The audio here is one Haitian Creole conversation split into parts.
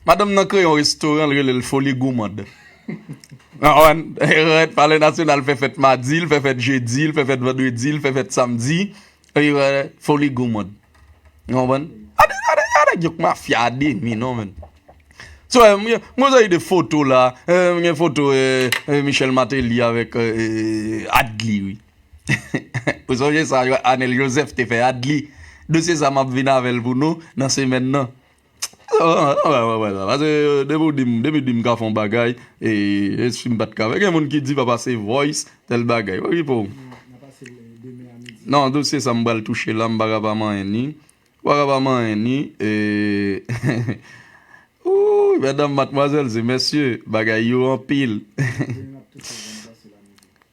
Madanm nan kreye yon restoran l rele l Foli Goumande. Palè Nasyonal fè fèt madi, l fè fèt jedi, l fè fèt vandredi, l fè fèt samdi. Foli Goumande. A nèg yo k mafya a demi non menn. Mwen wè seri de foto la, mwen gen foto Michel Martelly avèk Adly wi. Ou sonje sa Anel Joseph te fè Adly? Dosye sa map vin avèl pou nou nan semèn nan. Pase depi ou dim depi ou dim ka fè yon bagay e si m pat ka fè gen moun ki di pa pase voice tèl bagay wè ki pouw nan dosye sa m pral touche la m paka pa manyen ni m paka pa manyen ni oouyy mètdam matmwazèl se mesye bagay yo anpil.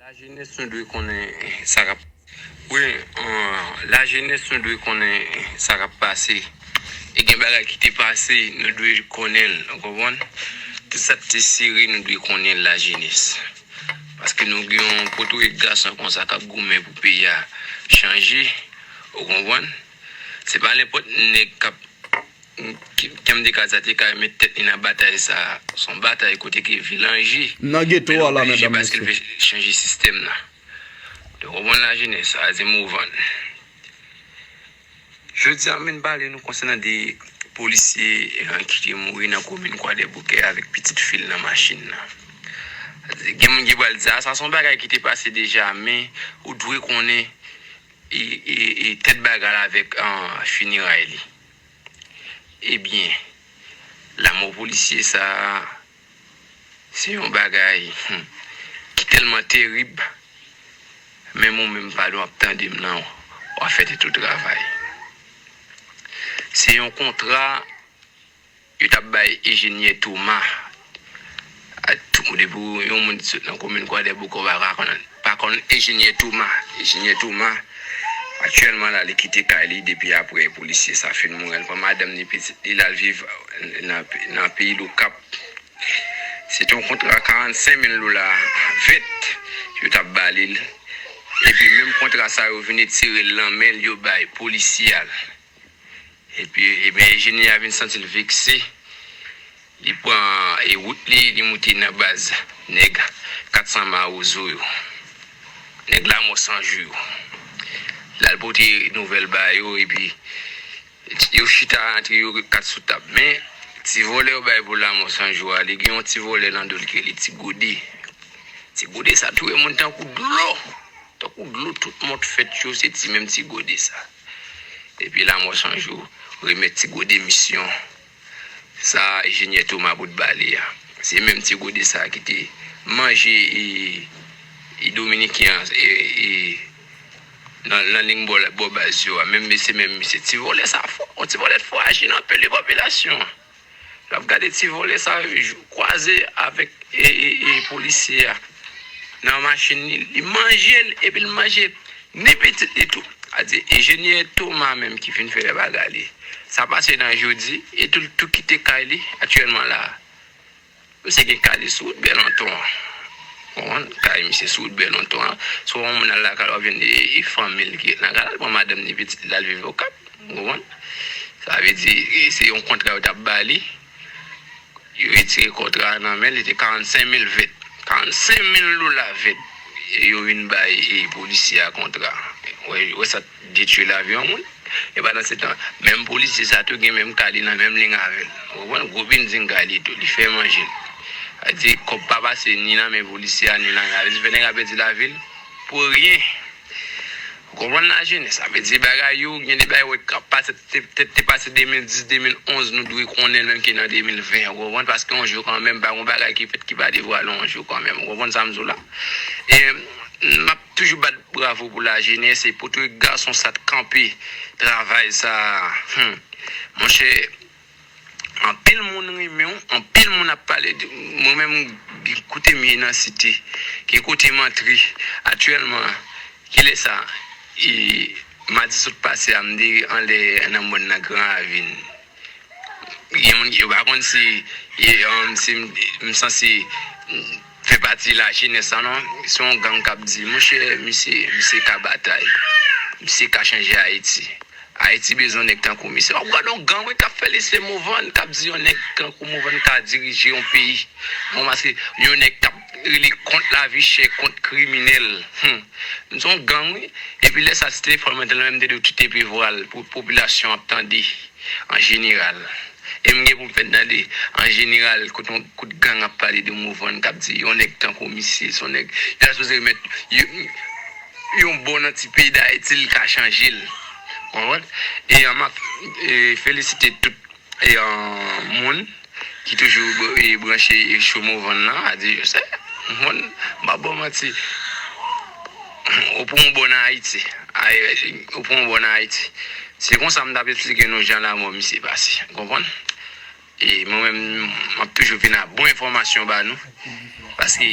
La jenès nou dwe konnen sa kap wi la jenès nou dwe konnen sa kap pase e gen bagay ki te pase nou dwe konnen l ou konprann tout sa ki te sere nou dwe konnen l la jenès paske nou gen yon potorik gason konsa kap goumen pou peyi a chanje ou konprann. Se pa nenpòt nèg k ap kenbde kazat li ka met tèt li nan batay sa a. S on batay kote ke vi l anje. Nan geto a la medam mesye. Men l oblije paske l vle chanje sistèm nan. Ou konprann lajenès sa a ze mou vann. Jodi a m vin pale nou konsènan de polisye ki te mouri nan komin Kwadèboukè avèk pitit fi l nan machin nan. Gen moun ki pral di a sa s on bagay ki te pase deja men ou dwe konnen. E tèt bagay la avèk fineray li. Ebyen, lanmò polisye sa a, se yon bagay ki tèlman terib, menm ou menm Fadou ap tande m lan, w ap fè tèt ou travay. Se yon kontra. Yo tap bay Ejenyè Toma a tout moun depi w yon moun ki sot nan komin kwadèboukè w pa ka pa konn Ejenyè Toma Ejenyè Toma aktyèlman la li kite kay li depi aprè polisye sa fin mouri l pran madanm ni pitit li lal viv nan peyi lokap se te yon kontra 45 mil dola vèt yo tap ba li l epi menm kontra sa yo vin etire l nan men l yo bay polisye a l Epi ebyen Ejeni a vin santi l vekse, li pran e wout li, li moute nan baz nèg 400 mawozo yo, nèg lamò san jou yo. L al pote nouvèl ba yo epi yo chita antre yo kat sou tab. Men, ti vòlè yo bay pou lamò san jou a, li gen yon ti vòlè nan do l ki rele ti gode. Ti gode sa touye moun tankou dlo, tankou dlo tout mòd fèt yo se ti menm ti gode sa. Epi lanmò san jou remèt ti gode misyon sa a Ejenyè Toma Bout ba li a. Se menm ti gode sa a ki te manje e Dominiken an e e nan ling bò baz yo a. Menm mesye menm mesye ti vòlè sa a fò. On ti vòlè t fò aji nan peli popilasyon an. Lap gade ti vòlè sa kwaze avèk polisye a nan machin li, li manje l epi l manje ni pitit li tou. A di Ejenyè Toma menm ki fin fè bagay li. Sa pase nan jodi e tou l tou kite kay li aktyèlman la a. Misye gen kay li sou wout Bèlonton an. Ou konprann? Kay misye sou wout Bèlonton an. Si w wè yon moun al lakay la, w vin di e fanmi l ki ret nan kay la, l pran madanm ni pitit li l al viv Okap. Ou konprann? Sa vle di, se yon kontra yo t ap ba li. Yo retire kontra a nan men l, li te 45 mil vèt. 45 mil dola vèt yo vin bay polisye a kontra. Ou wè sa? Detwi lavi yon moun. E pandan se tan, menm polisye sa tou gen menm ka li nan menm ling avè l. Ou konprann? Gwo binding ka li tou. Li fè manje l. Sa vle di, kòb pa pase ni nan men polisye a ni nan men. Sa vle di fè nèg la pèdi lavi l pou ryen. Ou konprann lajenès? Sa vle di bagay yo, gen de bagay ou wè k ap pase, pètèt te pase 2010, 2011, nou dwe konnen l menm ki nan 2020. Ou konprann? Paske yon jou kanmenm, pa gen yon bagay ki fèt ki pa devwale yon jou kanmenm. Ou konprann sa m di w la? E m ap. Toujou bat bravo pou la jenes e pou tout gason sa t kanpe travay sa humm monchè anpil moun renmenw anpil moun ap pale de mwen menm kotem ye nan site ki kotem antre aktyèlman kilè sa e madi sot pase a mte anlè nan mòn nan gran ravin gen moun yo pa konn si e humm si msanse. Fè pati la jenès la non. Se yon gang kap di monchè misye misye ka batay misye ka chanje ayiti ayiti bezwen nèg tankou misye wap gad yon gang wi kap fè li se movann kap di yon nèg tankou movann ka dirije yon peyi bon paske yon nèg kap rele kont lavi chè kont kriminèl humm se yon gang wi epi lè sa si te fanm lan te la menm li te dwe kite pi vwal pou popilasyon an ap tande an jeneral. E m gen pou m fè tande, an jeneral, kote yon kout gang ap pale de Morvan, k ap di yon nèg tankou misye, s on nèg yo ta sipoze remèt yon bò nan ti peyi Dayiti l ka chanje l. Ou konprann? E m ap felisite tout moun ki toujou branche sou Morvan nan, Adye Joseph. Ou konprann? M p ap ba w manti. Ou pran w bò nan Ayiti. Ou pran w bò nan Ayiti. Se konsa m t ap esplike nou jan lamò misye pase. Ou konprann? E mwen menm, m ap toujou vin ak bon enfòmasyon ba nou. Paske.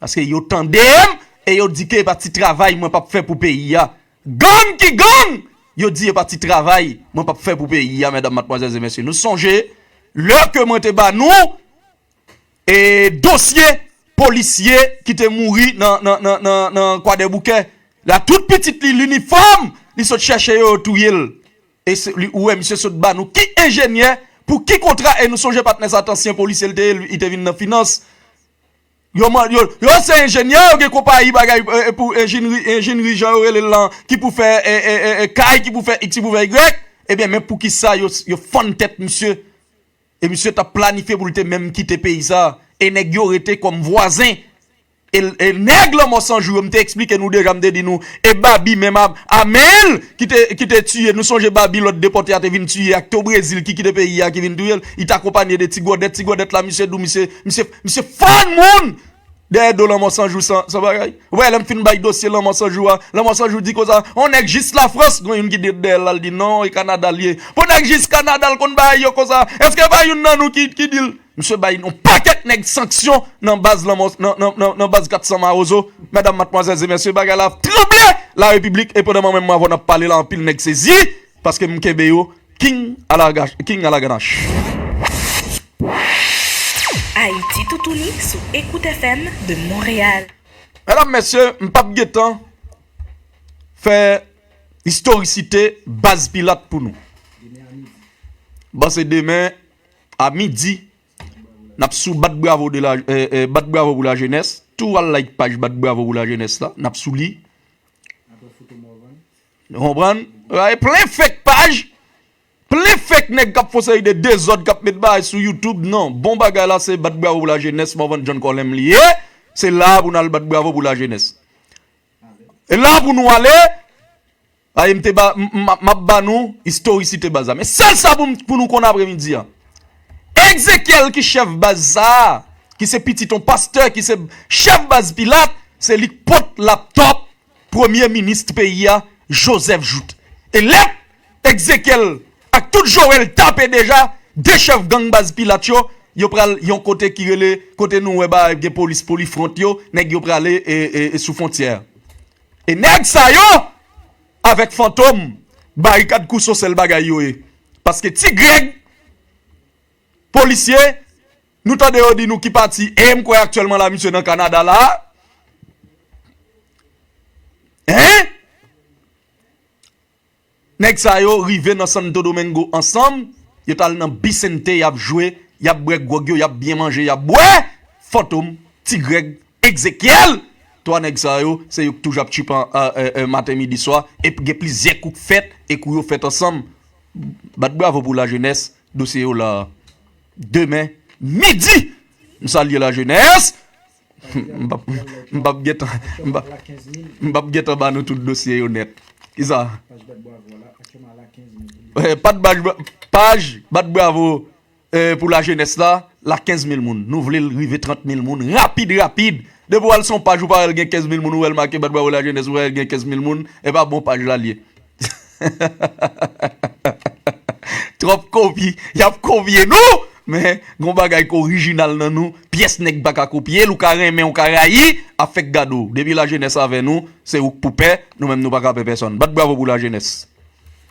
Paske yo tande'm e yo di ke e pa ti travay mwen p'ap fè pou peyi a. Gang ki gang! Yo di e pa ti travay mwen p'ap fè pou peyi a mèdam, matmwazèl e mèsye. Nou sonje lè ke mwen te ba nou e dosye polisye ki te mouri nan kwadèboukè la tout pitit li linifòm li sot chèche yo yo touye'l. E se li ou wè misye sot ba nou ki enjenyè pou ki kontra e nou sonje patnè sa t'ansyen polisye li te ye li te vin nan finans. Yo man yo yo se enjenyè yo gen konpayi bagay pou enjinri enjinri jan yo rele l lan ki pou fè e kay ki pou fè iks ki pou fè ygrèk ebyen men poukisa yo yo fann tèt misye e misye t ap planifye pou l te menm kite peyi sa e nèg yo rete kòm vwazen e l e nèg lanmò san jou yo m te esplike nou deja m te di nou e babi menm a a men l ki te ki te tiye nou sonje babi lòt depòte a te vin tiye ak te o brezil ki kite peyi a ki vin touye l li te akonpanye de ti gòdèt ti gòdèt la misye di w misye misye Misye fann moun dèyè do lanmò sanjou san bagay ou pa wè lèm fin bay dosye lanmò sanjou a lanmò sanjou di konsa yon nèg jis lafrans gen youn ki di dèyèl lal di non e kanadal ye pou nèg jis kanadal konn bagay yo konsa èske pa youn nan nou ki dil misye bay yon pakèt nèg sanksyon nan baz lanmò nan baz 400 mawozo medam matmwazèl e mesye bagay la ap tranble larepiblik e pandan mwen menm avèw nap pale la anpil nèg sezi paskem kenbe yo. King alaganache. Medam mesye m pap gen tan fè istorisite baz pilat pou nou. Bon se demen a midi nap sou bat bravo pou la jenès tou al like paj bat bravo pou la jenès la nap sou li. Nou konprann? Bagay plen fake paj, plen fake nèg kap fon seri de dezòd kap met bagay sou youtube nan bon bagay la se bat bravo pou la jenès Morvan John Colem li ye se la a pou nal bat bravo pou la jenès e la a pou nou ale paske m te ba map ba nou istorisite baz la men sèl sa pou nou konn apre midi an Exekiel ki chèf baz sa a ki se pitit yon pastè ki se chèf baz pilat se li k pot laptop Premye Minis peyi a Joseph Jouthe e lèt Exekiel ak tout Joel tape deja 2 chèf gang baz Pilat yo, yo pral yon kote ki rele kote nou wè ba gen polis polifront yo nèg yo prale sou fontyè a e nèg sa yo avèk Fantom Barikad Kouso sèl bagay yo ye paske Ti Grèg. Polisye, nou tande yo di nou ki pati e m kwè aktyèlman la misye nan Kanada la a. Hein? Nèg sa yo rive nan Santo Domingo ansanm, yo t al nan Bisente y ap jwe, y ap bwè gwòg yo, y ap byen manje, y ap bwè! Fantom, Ti Grèg, Ekzekyèl! Twa nèg sa yo, se yo k toujou ap tchipan maten midi swa e gen plizyè kou k fèt e kou yo fèt ansanm. Bat bravo pou la jenès dosye yo la demen midi m salye la jenès m pap gentan m pap gentan ba nou tout dosye yo nèt kisa paj bat bravo Pou la jenès la, la 15 mil moun. Nou vle l rive 30 mil moun rapid rapid. Depi w al sou yon paj ou pa wè l gen 15 mil moun, ou wè l make bat bravo la jenès, ou wè l gen 15 mil moun, e pa bon paj la l ye. Twòp kopi, y ap kopye nou! Men, gen yon bagay ki orijinal nan nou, pyès nèg pa ka kopye l, ou ka renmen, ou ka rayi, afè k gade w. Depi la jenès avè nou, se ou k pou pè, nou menm nou pa ka pè pèsonn. Bat bravo pou la jenès!